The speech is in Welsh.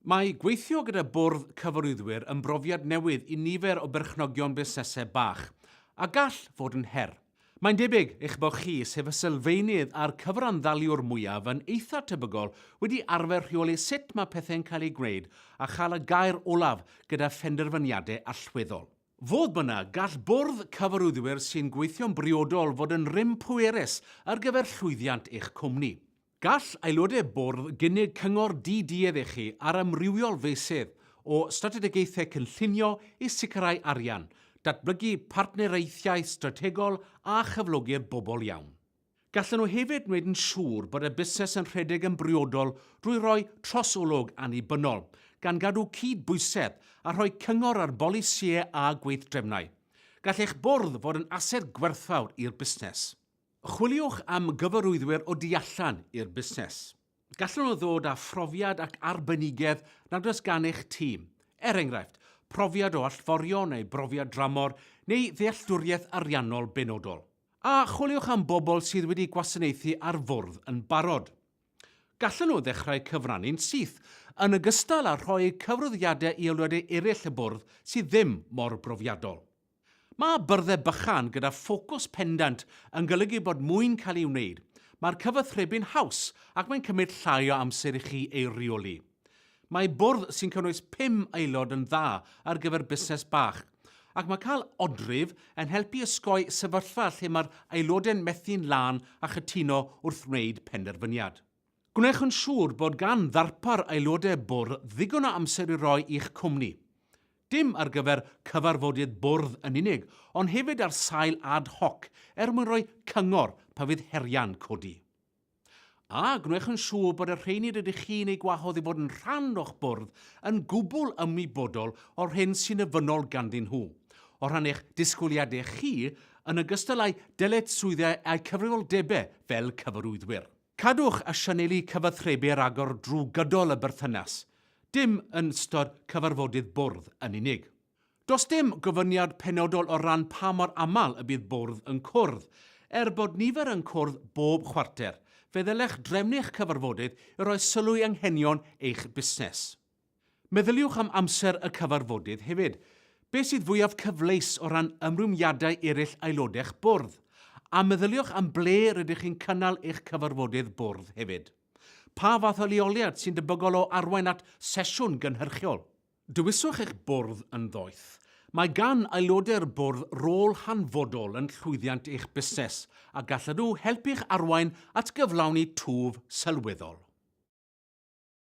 Mae gweithio gyda Bwrdd Cyfarwyddwyr yn brofiad newydd i nifer o berchnogion busnesau bach, a gall fod yn her. Mae'n debyg eich bod chi, sef y sylfaenydd a'r cyfranddaliwr mwyaf, yn eitha' tebygol wedi arfer rheoli sut mae pethau'n cael eu gwneud a chael y gair olaf gyda phenderfyniadau allweddol. Fodd bynnag, gall Bwrdd Cyfarwyddwyr sy'n gweithio'n briodol fod yn rym pwerus ar gyfer llwyddiant eich cwmni. Gall aelodau bwrdd gynnig cyngor di-duedd i chi ar amrywiol feysydd, o strategaethau cynllunio i sicrhau arian, datblygu partneriaethau strategol a chyflogi'r bobl iawn. Gallan nhw hefyd wneud yn siŵr bod y busnes yn rhedeg yn briodol drwy roi trosolwg annibynnol, gan gadw cyd-bwysedd a rhoi cyngor ar bolisïau a gweithdrefnau. Gall eich bwrdd fod yn ased gwerthfawr i'r busnes. Chwiliwch am gyfarwyddwyr o du allan i'r busnes. Gallan nhw ddod â phrofiad ac arbenigedd nad oes gan eich tîm, er enghraifft, profiad o allforio neu brofiad dramor neu ddealltwriaeth ariannol benodol. A chwiliwch am bobl sydd wedi gwasanaethu ar fwrdd yn barod. Gallan nhw ddechrau cyfrannu'n syth, yn ogystal â rhoi cyfarwyddiadau i aelodau eraill y bwrdd sydd ddim mor brofiadol. Mae byrddau bychan gyda ffocws pendant yn golygu bod mwy'n cael ei wneud, mae'r cyfathrebu'n haws ac mae'n cymryd llai o amser i chi ei reoli. Mae bwrdd sy'n cynnwys pum aelod yn dda ar gyfer busnes bach, ac mae cael odrif yn helpu osgoi sefyllfa lle mae'r aelodau'n methu'n lân a chytuno wrth wneud penderfyniad. Gwnewch yn siŵr bod gan ddarpar aelodau bwrdd ddigon o amser i roi i'ch cwmni, dim ar gyfer cyfarfodydd bwrdd yn unig, ond hefyd ar sail ad hoc er mwyn rhoi cyngor pan fydd heriau'n codi. A gwnewch yn siŵr bod y rheiny rydych chi'n eu gwahodd i fod yn rhan o'ch bwrdd yn gwbl ymwybodol o'r hyn sy'n ofynnol ganddyn nhw o rhan eich disgwyliadau chi yn ogystal â'u dyletswyddau a'u cyfrifoldebau fel cyfarwyddwyr. Cadwch a sianelu cyfathrebu ragor drwy gydol y berthynas, dim yn ystod cyfarfodydd bwrdd yn unig. Does dim gofyniad penodol o ran pa mor aml y bydd bwrdd yn cwrdd. Er bod nifer yn cwrdd bob chwarter, fe ddylech drefnu'ch cyfarfodydd i roi sylw i anghenion eich busnes. Meddyliwch am amser y cyfarfodydd hefyd. Beth sydd fwyaf cyfleus o ran ymrwymiadau eraill aelodau eich bwrdd? A meddyliwch am ble rydych chi'n cynnal eich cyfarfodydd bwrdd hefyd. Pa fath o leoliad sy'n debygol o arwain at sesiwn gynhyrchiol? Dewiswch eich bwrdd yn ddoeth. Mae gan aelodau'r bwrdd rôl hanfodol yn llwyddiant eich busnes a gallan nhw helpu'ch arwain at gyflawni twf sylweddol.